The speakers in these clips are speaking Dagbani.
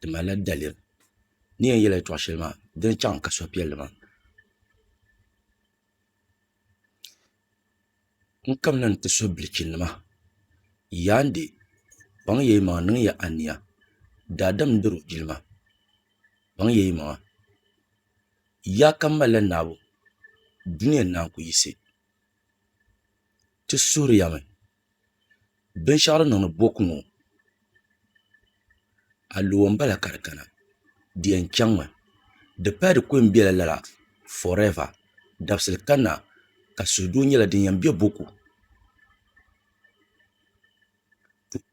di malila daliri ni yɛn yɛla yɛltɔɣa shɛli maa di ni chaŋ ka suhupiɛlli maa n kamina n ti so bilichi nima yaa n di kpaŋ yɛ yi maŋa niŋya aniya daadam n diri o jilima kpaŋ yɛ yi maŋa yaa ka malila naabu duniya naa n ku yisi ti suhuriya mi binshɛɣu din niŋdi boko ŋɔ a luwa n bala ka di kana di yɛn chɛŋmi di paya di ku yɛn biɛla lala forɛva dabisili kanna ka suhudoo nyɛla din yɛn bɛ boko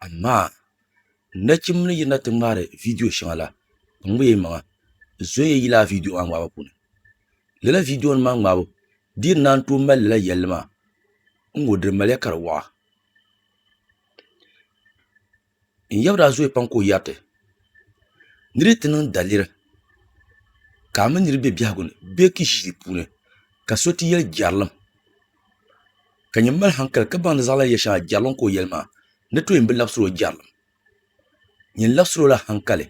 amaa Nachimbi ni yirina ti ŋmaari viidiyo shɛŋa la, n ŋmɛ yi maŋa n zoya yi lala viidiyo maa ŋmaabu puuni. Lala viidiyo nim maa ŋmaabu di yi ni naan tooi mali lala yɛlli maa n ŋɔ di maliya ka di waɣa. N yaba daa zooya pam ka o yɛri ti ni di ti niŋ daliri ka a mini niriba bɛ biɛhigu ni bee ka i ʒi di puuni ka so ti yɛli jɛrilim. ka nyin mali hankali ka baŋdi zaɣ lahi yɛli shɛŋa jɛrilim ka o yɛli maa ni too yɛn bi labisiri o jɛrilim nyin labisiri o la hankali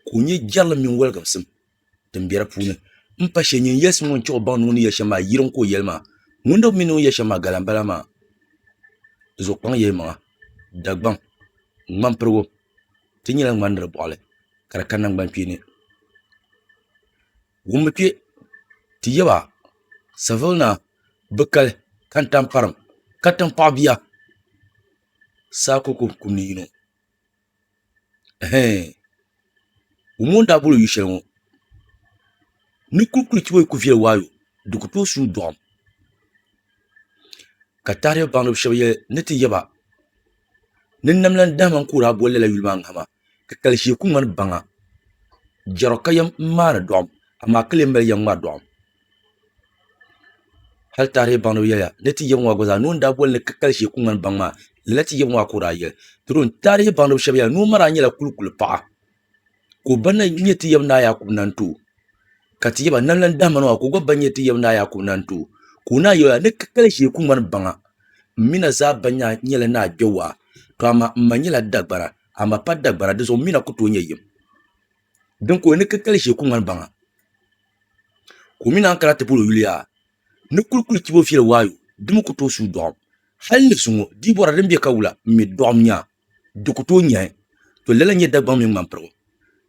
ka o nyɛ jɛrilim mini woligisim din bɛ di puuni n pa shee nyin yɛlisimi ŋɔ n chɛ o baŋdi ŋuni yɛli shɛm maa yiriŋ ka o yɛli maa ŋuni n mi ni o ni yɛli shɛm maa gala n bala maa zuɣukpaŋ yɛlimaŋli Dagbaŋ ŋmani pirigu ti nyɛla ŋmani ni di bɔɣili ka di ka naŋgbani kpeeni Wummi kpe ti yab a Saville naa bi kali ka n tam parim ka tiŋ paɣ bia saa koko kum ni yino. Ɛhɛɛn! Wummi o ni daa bol o yu'shɛli ŋɔ ni kuli kuli chibi o ku viɛli waayo di ku tooi suui dɔɣim ka taarihi baŋdiba shɛba yɛli ni ti yab a. Ni n nam la n dahima n kuhiri a bolli la yuli maa ŋahima, ka kali shee ku ŋmani baŋa. Jɛro ka yɛm n maani dɔɣim, amaa ka lee mali yɛm ŋmari dɔɣim. Hal taarihi baŋdiba yɛliya ni ti yɛbiŋɔ a gba zaa, noo n daa boli ni ka kali shee ku ŋmani baŋ maa, lala ti yɛbiŋɔ a ka o daa yɛli. Doro n taarihi baŋdiba shɛba yɛla ni o mara nyɛla kulikuli paɣa. ka o ba na nyɛ ti yaba ni Ayakubu na n-ti o, ka ti yaba na lan dahima na maa ka o gba ba nyɛ ti yaba ni Ayakubu na n-ti o, ka o naa yɛl a, Ni ka kali ʒee ku ŋmani baŋa. M mi na zaa ba nyɛla ni a kpe waa, tɔ amaa m ma nyɛla dagbara, a ma pa dagbara, dinzuɣu m mi na ku tooi nyɛ yim. Din ka o yɛl ni ka kali ʒee ku ŋmani baŋa, ka o mi naan kana ti bol o yuli yaa, Ni kuli kuli chibi o viɛl waayo, di mi ku tooi suui dɔɣim. Hal ni zuŋɔ, dii bɔra din be ka wula, m mi dɔɣim nyaa. di ku tooi nyɛhi, to lala n-nyɛ Dagbaŋ mini Ŋmanpirigu,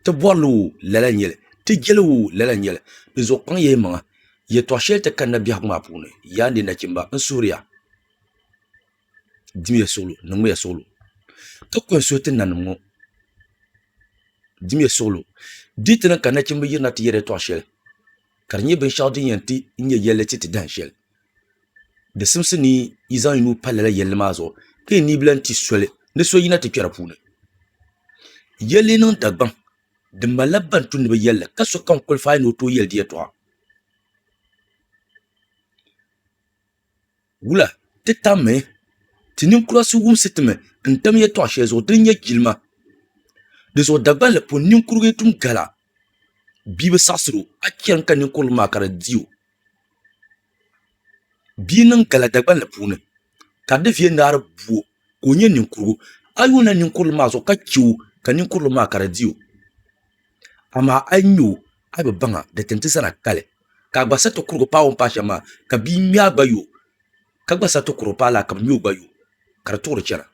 ti bɔrili woo lala n-nyɛ li, ti jeli woo lala n-nyɛ li, di zuɣu kpaŋ ya yi maŋa, yɛtɔɣ shɛli ti kanna biɛhigu maa puuni, Yaa n-di nachimba, n suhiri ya, dimiya suɣilo, niŋmiya suɣilo, ka kɔhi suhi ti nanim ŋɔ, dimiya suɣilo, di yi ti niŋ ka nachimba yirina ti yɛri yɛtɔɣ shɛli, ka di nyɛ binshɛɣu din yɛn ti nyɛ yɛlli ti ti dahin shɛli. di simsi ni yi zaŋ yi nuu pa lala yɛlli maa zuɣu ka yi nibilahi ti soli ni so yina ti kpɛ di puuni yɛlli niŋ Dagbaŋ di malila ban tumdi bi yɛlli ka sokam kolifaai ni o tooi yɛli di yɛltɔɣa wula ti tammi ti ninkura so wumsi ti mi n tam yɛltɔɣa shɛli zuɣu din nyɛ jilima dinzuɣu Dagbaŋ ni pun ninkurigu yi tum gala bia bi saɣasiri o a chɛ n ka ninkurili maa ka di di o bia niŋ gala dagbanli puuni ka di viɛ naari buo ka o nyɛ ninkurigu a yi yuli ninkurili maa zuɣu ka chɛ o ka ninkurili maa ka di di o amaa a yi nyɛ o a bi baŋa di tin ti zana kali ka a gba siɣi ti kuri paai o ni paai shɛm maa ka bia ŋmɛ a gba yo ka gba siɣi ti kuri paai laa ka bi ŋmɛ o gba yo ka di tuɣuri chɛna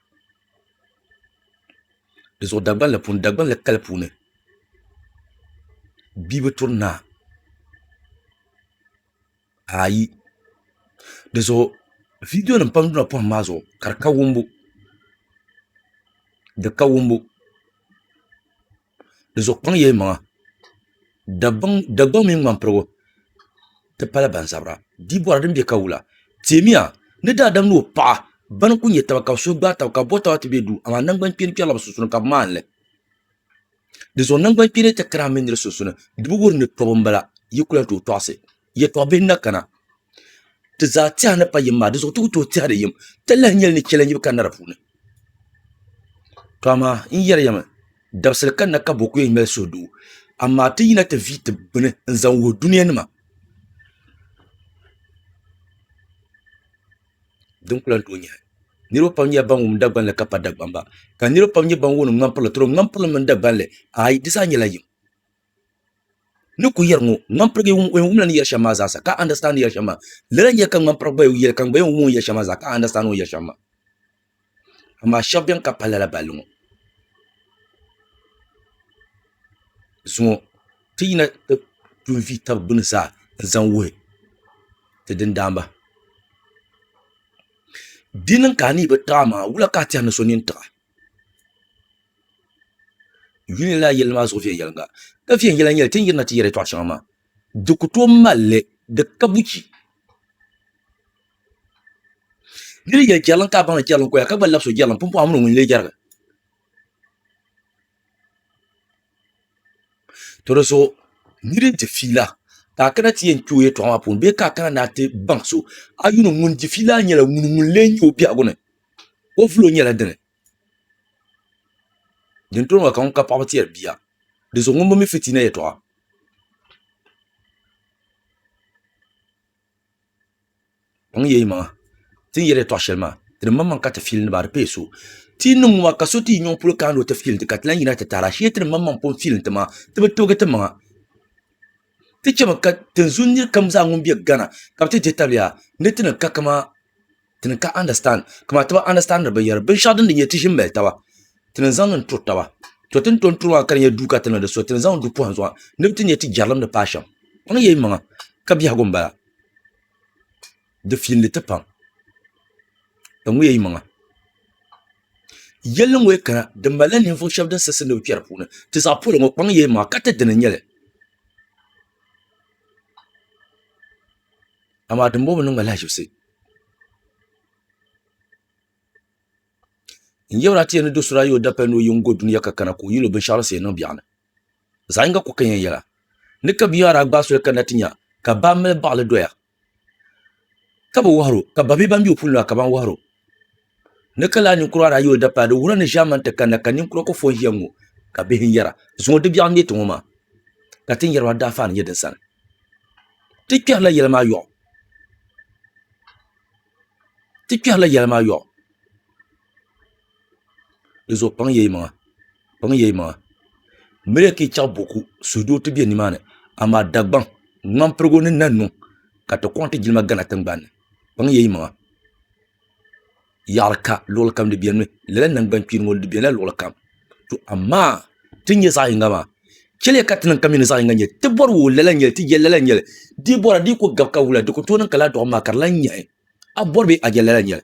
di zuɣu Dagban la puuni Dagban la kali puuni bia bi turi naa ayi di zuɣu viidiyo nim pam dina pɔhim maa zuɣu ka di ka wumbu di ka wumbu. di zuɣu kpaŋ yee maŋa Dagbaŋ mini ŋmanipuɣu ti pala ban zabira di bori din bɛ ka wula timiya ni daadam ni o paɣa ban kuli nyɛ taba ka bi suhu gbaai taba ka bi bo taba ti bɛ duu amaa nangbani kpeeni kpɛrila bi sunsuuni ka bi maanili dinzuɣu nangbani kpeeni ti kara mii nira sunsuuni di bi wuhi ni tobu n bala yi kuli yɛli tooi tɔɣisi Yɛtɔɣ bihi n-na kana, ti zaa tɛha ni pa yim maa, dinzuɣu ti ku tooi tɛhiri yim, ti lahi nyɛli ni chɛli n-yi bi kanna di puuni. Tɔ amaa n yɛri ya mi, dabisili kanna ka bo ku yɛn mali suhudoo, amaa ti yina ti vihi ti bini n-zaŋ wuhi dunianima. Din ku lan tooi nyɛhi. Niriba pam nyɛla ban wum Dagbani li ka pa Dagbamba, ka niriba pam nyɛ ban wuhi ni ŋmampirili, tɔro ŋmampirili mini Dagbani li, aai, di zaa nyɛla yim. ni ku yɛri ŋɔ, ŋmanpirigu yɛn wum la ni yɛri shɛm maa zaasa ka a understand ni yɛri shɛm maa. Lala n-yɛli ka ŋmanpirigu gba yɛli ka n gba yɛn wum o ni yɛri shɛm maa zaa ka a understand o ni yɛri shɛm maa. Amaa shɛba beni ka pali lala balli ŋɔ. Zuŋɔ ti yina ti tuhi vi taba gbini zaa n-zaŋ wuhi ti dindaamba. Di niŋ ka a ni yi bi tiɣi a maŋa, wula ka a tɛri ni so nini tiɣi a? Yuli n lahi yirina maa zuɣu viɛnyɛlinga ka viɛnyɛla n nyɛli ti ni yirina ti yɛda yɛltɔɣa shɛŋa maa di ku tooi malli di kabuchi di ni yɛli jɛrilim ka a baŋli jɛrilim koya ka gba labisi o jɛrilim pumpɔŋɔ a mini o ŋuni n lee jɛrigi to di zuɣu n yi di ni di fiila ka a kana ti yɛn kpɛ o yɛltɔɣa maa puuni bee ka a kana ni a ti baŋ so a yuli ŋun di fiila maa nyɛla ŋuni ŋun lee nyɛ o biɛhigu ni o vulo nyɛla dini dini too maa ka ŋuni ka paɣaba tɛri bia di zuɣu ŋuni bi mi fitina yɛtɔɣa. Ti chɛmi ka tinzun nir kam zaa ŋun be Ghana ka bɛ ti dihi tabili yaa ni ti ni ka kama ti ni ka understand kama ti bi understandiri binyɛra binshɛɣu din di nyɛ ti ʒi m-mali taba ti ni zaŋ niŋ turi taba to ti ni tom turi maa ka di nyɛ duu ka ti niŋdi so ti ni zaŋ du pɔhim zuɣu ni bɛ ti nya ti jɛrilim ni paai shɛm kpaŋ ya yimaŋa ka biɛhigu m-bala. Di fiilindi ti pam. Di ŋuya yi maŋa. Yɛlli ŋɔya kana di malila ninvuɣ shɛb din siɣisindi bɛ kpɛri puuni. Ti zaɣ polo ŋɔ kpaŋ yee maa ka ti dini n-nyɛ li. Amaa dimbɔŋɔ niŋ ma lahiʒibisi. N yɛbir a ti yɛn ni do so daa yi o dapal ni o yi ŋ-go dunia ka kana ka o yil o binshɛɣu laɣisi yɛn niŋ biɛɣuni. Zaɣ yiŋga ku ka yɛn yɛla ni ka binyɔa daa gbaai soli kanna ti nya ka baa mali baɣili doya. ka bi wɔhiro ka ba bɛ ban bɛ o puuni maa ka ban wɔhiro ni ka lahi ninkura daa yuli dapaa di wuhirila ni ʒaamani ti kanna ka ninkura ku fo n-ʒiya ŋ-ŋɔ ka bihi yɛra zuŋɔ di biɛɣu n-nyɛ ti ŋɔ maa ka ti ni yɛri maa daafaa ni nyɛ din sani ti kpɛrila yɛli maa yɔɣu ti kpɛrila yɛli maa yɔɣu dizuɣu kpaŋ ya yi maŋa n mi ya ka yi chaŋ buku suudoo ti be ni maa ni amaa Dagbaŋ ŋmampirigu ni na niŋ ka ti kɔŋ ti jilima Ghana tiŋgbani ni kpaŋ ya yi maŋa yaɣiri ka luɣili kam di beni mi lala nangbuni kpeeni ŋɔ di bela luɣili kam to amaa ti ni nya zaɣi yinga maa cheliya ka ti niŋ ka mi ni zaɣi yinga nyɛli ti bɔri wuhi lala nyɛli ti je lala nyɛli di yi bɔra di yi kuli gabi ka wula di kuli tooi niŋ ka lala dɔɣim maa ka di lahi nyaɣi a bɔri bee a je lala nyɛli.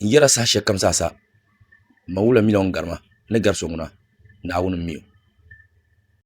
n yɛra saha shɛli kam zaa sa n ma wula mi la o ni gari ma ni gari so ŋuna Naawuni n mi o.